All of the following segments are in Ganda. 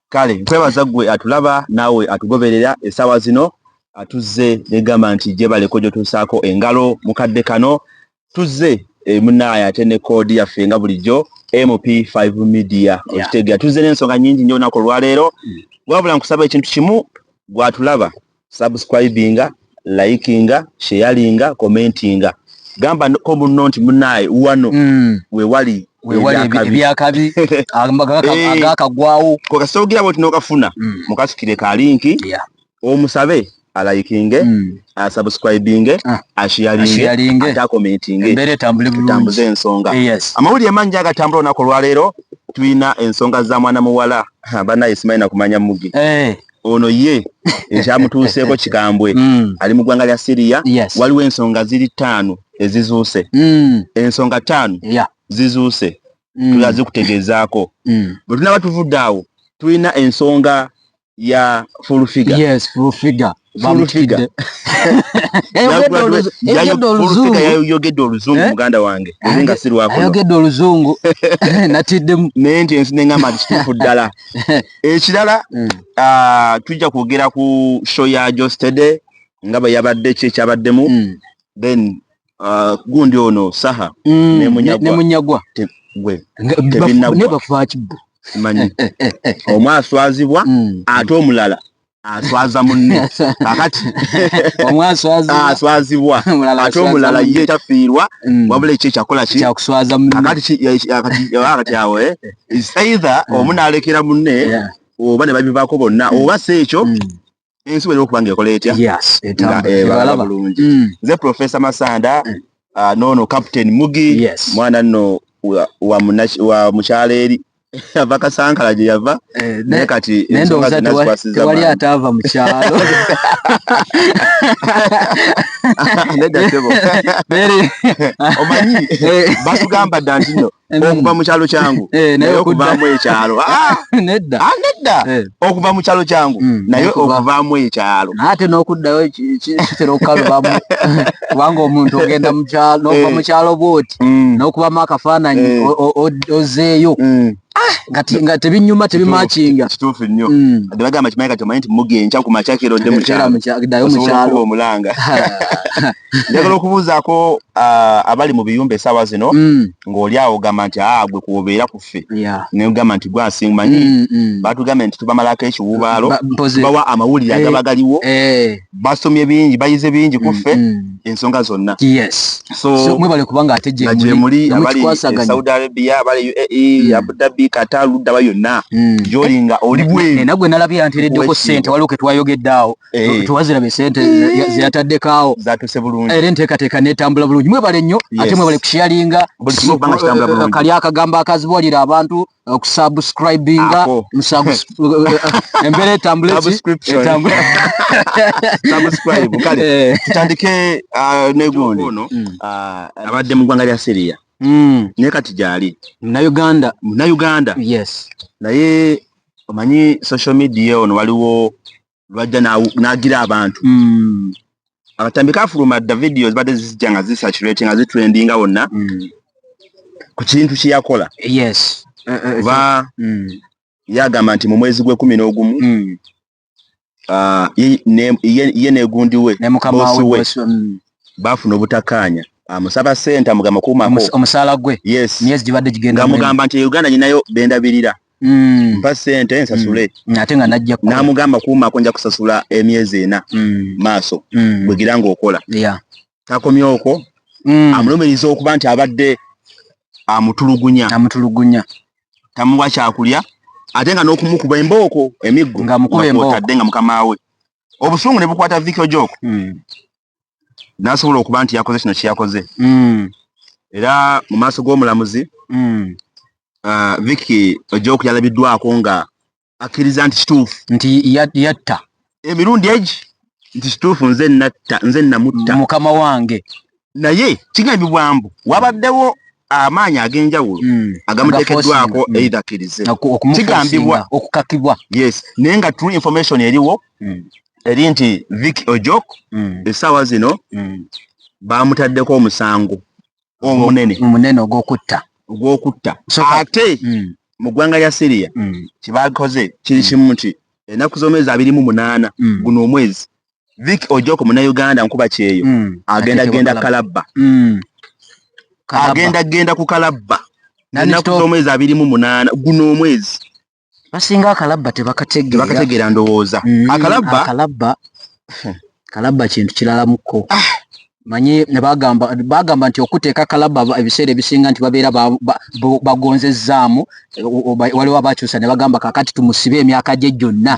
kale nkwebaza gwe atulaba naawe atugoberera esaawa zino atuzze negamba nti gyebaleko gyotuusaako engalo mukadde kano tuzze eh, munaaye ate ne koodi yaffe nga bulijjo mp5 media okitegera tuzze n'ensonga nyingi nyo olunaku olwaleero mm. wabula nkusaba ekintu kimu gwatulaba subscribinga likinga sheyalinga commentinga gamba ko munno nti munaye wano mm. wewali ebyakabi agakagwawo kokasogira bwoti nokafuna mm. mukasukire ka linki yeah. omusabe alayikinge mm. asubscribinge ah. ashiyalinge atakomentinge tambuze ensonga eh, yes. amawulire mangi agatambula olunaku olwaleero tulina ensonga za mwana muwala banaye simanyi nakumanya mugi hey. Eh. ono ye ekyamutuuseeko kikambwe mm. ali mu ggwanga lya siriya yes. waliwo ensonga ziri ttaano ezizuuse mm. ensonga ttaano yeah. zizuuse mm. tula zikutegeezaako mm. bwe tunaba tuvudde awo tulina ensonga ya fulfiga yes, fulfiga yayogedde oluzungu eh? muganda wange eri nga sirwayogedde oluzungu natiddemu naye nti ensi neŋamba nti kituufu ddala ekirala mm. ah, tujja kwogera ku show ya jostede nga bwe yabadde ki ekyabaddemu mm. then ah, gundi ono saha mm, nemunyagwa nebafaki bo manyi omu aswazibwa ate omulala aswaza munne kakati omwaswazibwa ate omulala ye tafiirwa mm. wabula ekyo ekyakola kikakati awo eh? either mm. omu nalekera munne oba ne babivaako bonna mm. oba si ekyo ensi wena okuba nga ekola etya ebalaba eh, bulungi nze professor masanda ah, nono captain mugi mwana nno wa mukyala eri ava kasankala gye yava eh, naye kati tewali ataava mu kyalo omanyi eh. batugamba dda ntino okuva mu kyalo kyangu eh, naye okuvaamu ekyalo ah! nedda ah, okuva mu kyalo kyangu mm, naye okuvaamu ekyalo ate n'okuddayo kitera okukalubamu kubanga omuntu ogenda mukyalo nova eh. mukyalo bwoti mm. n'okubamu akafaananyi eh. ozeeyo mm. ah, nga tebinyuma tebimakinga kituufu nnyo ade bagamba kimanyi kati omanyi nti mugenca ku makyakiro dde mukyalo omulanga njagala okubuuzaako ah, abali mu biyumba esaawa zino mm. ng'oli awo ogamba nti aa ah, gwe kuobeera ku ffe negamba nti gwasing manyi mm, mm. batugambye nti tubamalako ekiwuubaalo bawa amawulire agaba eh, galiwo eh. basomye bingi bayize bingi ku ffe ensonga zonna mwebale kubanga ate gyemuli abali e saudi arabia abali uae abudabi kata luddaba yonna gyolinga oli bwenaye nagwe nalabye yantereddeko sente waliwo ketwayogedde awo Eh. tuwazira besente eh. zeyataddekaawo zatuse bulungi era enteekateeka netambula bulungi mwebale nnyo ate mwebale kusharinga eh, kali akagambo akazibuwalira abantu okusubscribinga embeera etambuletutandike ah, negundi mm. ah, abadde mu ggwanga lya syria mm. naye kati gyali munauganda munauganda yes naye omanyi social media ono waliwo lwajja nagira abantu mm. abatambi kafuluma dda vidiyo zibadde zizijja nga zisaturating nga zitrendinga wonna mm. ku kintu kyeyakola yes eh, eh, oba mm. yagamba nti mu mwezi gwekumi n'ogumu ah, ye negundiwe bosiwe bafuna obutakaanya amusaba ah, sente amugamba kuumako omusaala gwe yes myezi gibadde gigenda amugamba nti e uganda nyinayo bendabirira Mm. mpa sente mm. nsasule mm. ate nga najja ku namugamba kuuma ako nja kusasula emyezi ena mm. maaso mm. bwegira ng'okola yeah. takomye okwo mm. amulumiriza okuba nti abadde amutulugunya amutulugunya tamuwa kyakulya ate nga n'okumukuba embooko emiggo ngamukuba embooko tadde nga mukama we obusungu ne bukwata vikyo joko mm. n'asobola okuba nti yakoze kino kyeyakoze mm. era mu maaso g'omulamuzi mm. uh, viki ojoku yalabiddwako nga akkiriza nti kituufu nti yatta emirundi egi nti kituufu nze natta nze namutta mukama wange naye kigambibwa mbu wabaddewo amaanyi ag'enjawulo hmm. agamutekeddwako hmm. either akkirize kigambibwa okukakibwa yes naye nga true information eriwo hmm. eri nti vic ojok essaawa zino baamutaddeko omusango omunene omunene ogw'okutta ogw'okutta ate mu ggwanga lya syria kyebakoze kiri kimu nti enaku z'omwezi abiri mu munaana guno omwezi Vic Ojoko munauganda nkuba kyeyo mm. agenda genda kalabba mm. agenda genda ku kalabba ennaku z'omwezi abiri mu munaana guno omwezi basinga akalabba tebakategeera ndowooza mm, akalabba akalabba kintu kiralamuko ah. manyi ne bagamba bagamba nti okuteeka kalaba ebiseera ebisinga nti babeera bagonzezzaamu waliwo abakyusa ne bagamba kakati tumusibe emyaka gye gyonna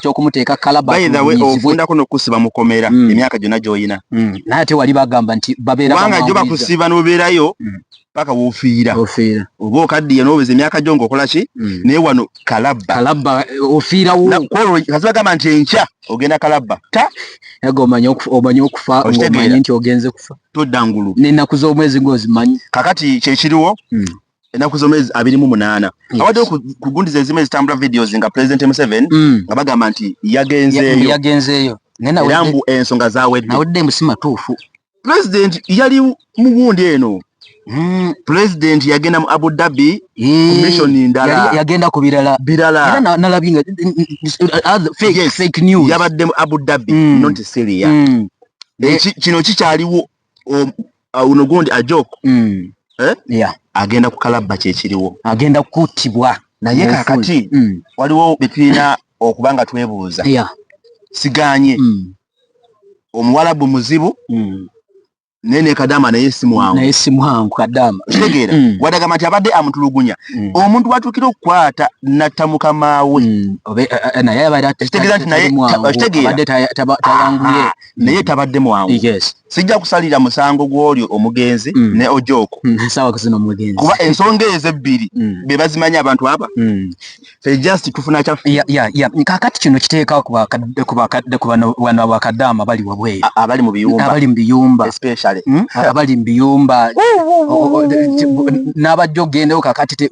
kyokumuteeka kalabaofundako nokusiba mukomera hmm. emyaka gyonna gyolina hmm. naye ate wali bagamba nti babeerabanga jo bakusiba nobeerayo hmm. paka wofiira ofiira oba okaddiye n'oweza emyaka gyo ng'okola ki mm. naye wano kalabba kalabba eh, ofiirawo kaziba gamba nti enkya ogenda kalabba ta ega omanye omanye okufa ng'omanye nti ogenze kufa todda ngulu n'ennaku z'omwezi ng'ozimanyi kakati kyekiriwo mm. enaku zomezi abiri mu munana yes. awade kugundiza ezime zitambula videos nga president museven mm. nga bagamba nti yagenzeyo yagenzeyo nena wede mbu ensonga za wede na wede musima tufu pulezidenti yali mu gundi eno hmm, pulezidenti yagenda mu abu dhabi hmm. komishoni ndala yagenda ku birala birala yabadde mu abu dhabi hmm. noti siria eh, kino kikyaliwo uno gundi ajok eh? agenda kukalabba kyekiriwo agenda kuttibwa naye kakati waliwo betulina okuba nga twebuuza siganye omuwalabu muzibu mm. naye ne kadama naye simwangu naye simwangu kadama kitegeera mm. wadagamba nti abadde amutulugunya mm. omuntu watuukira okukwata natta mukama we mm. eh, eh, nayekitegeera nti nayekitegeeratayanguye ah, naye tabadde mwangu sijja kusalira musango gw'olyo omugenzi ne ojooko kuba ensonga ezo ebbiri be bazimanyi abantu aba Eh, just tufuna kya ya ya ya kakati kino kiteeka ku bakadde ku bakadde ku bano bano bakadama bali wabwe abali mu biyumba abali mu biyumba especially hmm? abali mu biyumba n'abajjo gendewo kakati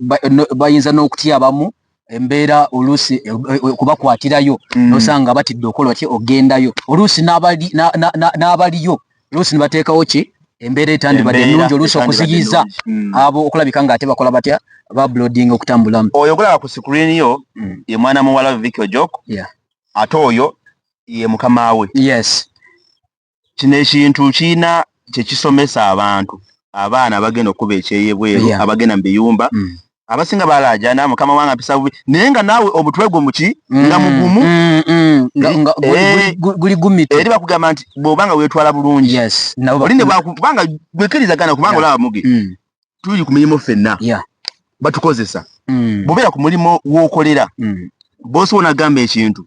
bayinza n'okutya abamu embeera oluusi eh, eh, okubakwatirayo hmm. nosanga batidde okola ki ogendayo oluusi n'abaliyo oluusi nibateekawo ki embeera etandibadde ennungi oluusi okuziyiza hmm. abo okulabika nga ate bakola batya bablodinga okutambulamu oyo okulaba ku sikuriini yo hmm. ye mwana muwala viki ojok ate oyo ye mukama we yes kino ekintu kirina kyekisomesa abantu abaana abagenda okukuba ekyeyebweru abagenda mu biyumba hmm. abasinga balaajana mukama wange ampisa bubi naye nga naawe obutwe gwo muki mm, nga mugumu mm, mm, eh, guli gumite eri bakugamba nti bwoba nga weetwala bulungi oli ne bwakubanga gwekirizagana kubanga olaba muge tuli ku mirimu ffenna batukozesa bwobeera ku mulimu w'okolera boosi wona agamba ekintu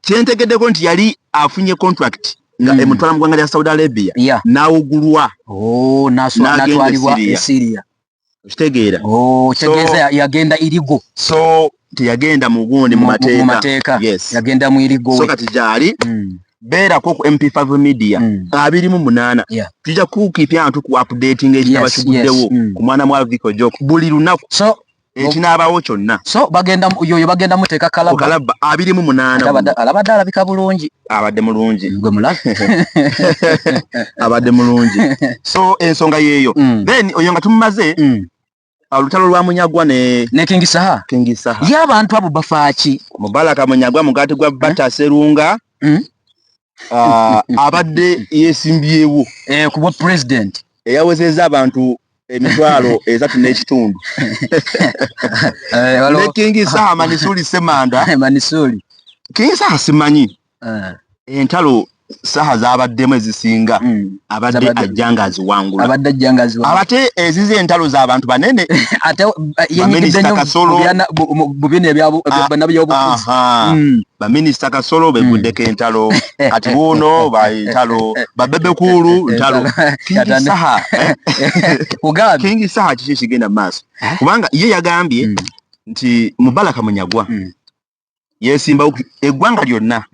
kyentegeddeko nti yali afunye contract nga mm. emutwala mu ggwanga lya saudi arabia yeah. n'awugulwa oh, natwalibwa esiria okitegeera oh, kitegeeza so, yagenda irigo so teyagenda mu gundi mu mateeka yes. yagenda mu irigo so kati gyali mm. beerako ku mp5 media mm. abiri mu munaana yeah. tujja kukipya ntu ku updating ekitaba yes, kiguddewo yes. mm. ku mwana mwa viko jok buli lunaku so ekinaabawo kyonna so bagenda yoyo bagenda muteeka kalaba kalaba abiri mu munaana alabadde alabika bulungi abadde mulungi gwe mulabe abadde mulungi so ensonga yeeyo mm. then oyo nga tumumaze mm. olutalo lwa munyagwa ne ne kingi saha kingi saha ye abantu abo bafaaki mubalaka munyagwa mugati gwa mm. bata serunga mm. uh, abadde yesimbyewo eh, kubwa president eyawezeza abantu emitwalo esatu n'ekitundu eh, ne kingi saha manisuli semanda eh, manisuli kingi saha simanyi eh. entalo saha zabaddemu ezisinga hmm. abadde ajja nga aziwangula abadde ajja nga aziwangula abate ezize entalo z'abantu banene ate yenyigidde nnyo mu bino ebyabunaby'obufuzi baminisita kasolo hmm. bevuddeko entalo kati buuno bantalo babebekuulu ntalo kingi saha kiki kigenda mu maaso eh? kubanga ye yagambye hmm. nti mubalaka munyagwa hmm. yesimbawo eggwanga lyonna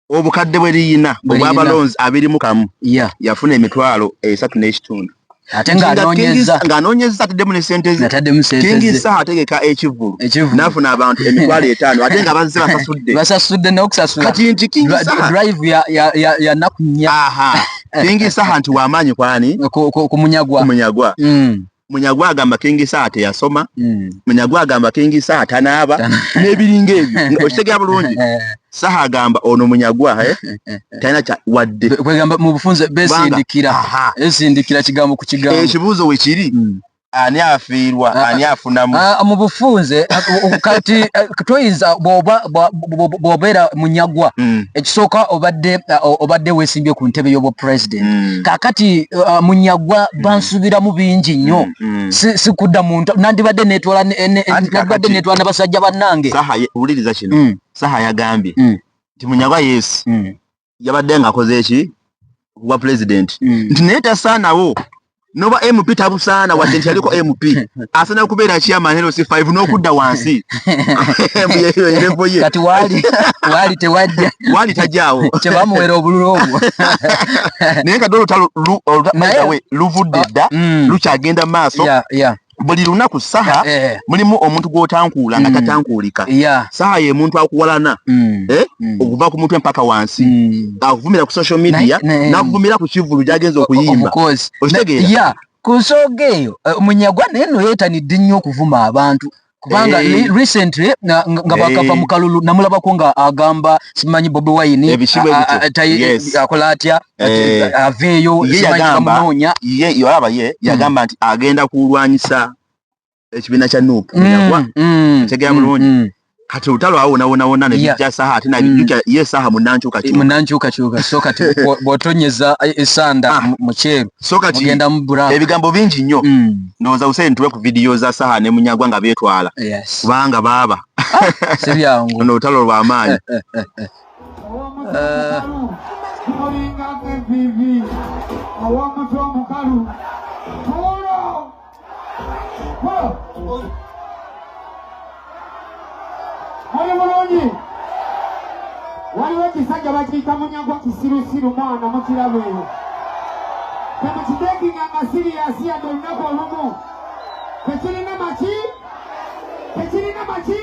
obukadde bwe liyina obwabalonzi abirimu kamu yafuna emitwalo esatu n'ekitundu ate ng'anoonyezza ataddemu ne sente zekingi saha ategeka ekivulu nafuna abantu emitwalo etaano ate nga bazze basasudde basasudde nokusasulakati nti kingi sahadraive yanaku nnya kingi saha nti wamaanyi kwani kumunyagwa kumunyagwa mm. munyagwa agamba kingi saha teyasoma mm. munyagwa agamba kingi saha tanaaba n'ebiringa ebyo okitegera bulungi saha agamba ono munyagwa eh? talina kya wadde kwegamba mu bufunze besindikira esindikira kigambo ku kigambo ekibuuzo eh, wekiri hmm. ani afiirwa ah, ani ah. afunamu ah, mu bufunze kati eh, toyinza bwobeera munyagwa hmm. ekisooka obadde obadde wesimbye ku ntebe y'obwa president hmm. kakati munyagwa bansuubiramu bingi nnyo sikudda muntu nandibadde netwala nabasajja bannange wuliriza kino saha yagambye mm. nti munyagwa yes mm. yabadde nga akoze eki wa president mm. nti naye tasaanawo noba mp tabusaana wadde nti yaliko mp asana kubeera kyamanero si 5 n'okudda wansi erevo ye kati waali waali tewajja waali tajjaawo kyebamuwera obululu obwo naye nga dolutalo olutawe luvudde dda mm. lukyagenda mu maaso buli lunaku saha eh, eh. mulimu omuntu gwotankuula nga mm. tatankuulika saha ye muntu akuwalana mm. eh? mm. okuva ku mutwe mpaka wansi akuvumira ku social media nakuvumira ku kivulu gyagenza okuyimba okitegeera ku nsooga eyo munyagwa naye no yeetanidde nnyo okuvuma abantu kubanga hey. Eh. recently nga hey. bakava eh. mukalulu namulabako nga agamba simanyi bobi wine akola atya Eh, eh, aveeyo yeyagambamunoonya ye olaba ye hmm. yagamba nti agenda kulwanyisa ekibiina kya nup hmm, yagwa hmm, tegera bulungi kati olutalo awo wonawonawona nebijja saha ate nabijukya ye saha munankyukakyukamunankyukakyuka so kati bwotonyeza e, esanda ah. mukyeru so kati ebigambo bingi nnyo ndowooza useni tuwe ku vidiyo za saha ne munyagwa nga betwala kubanga baaba ah, sibyangu ono olutalo lwamaanyi waliwo ekisajja bakiyita munyagwa kisirusiru mwana mukirabo eyo kemukitekinga nga siriyasi yadde olunaku olumu tekirina maki tekirina maki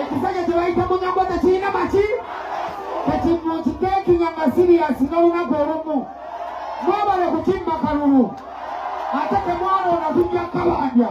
ekisajja kyebayita munyambo tekirina maki kati mukiteekinya nga siriyasi n'olunaku olumu mwebale kukimma kalulu ate temwaloona tujja kabanja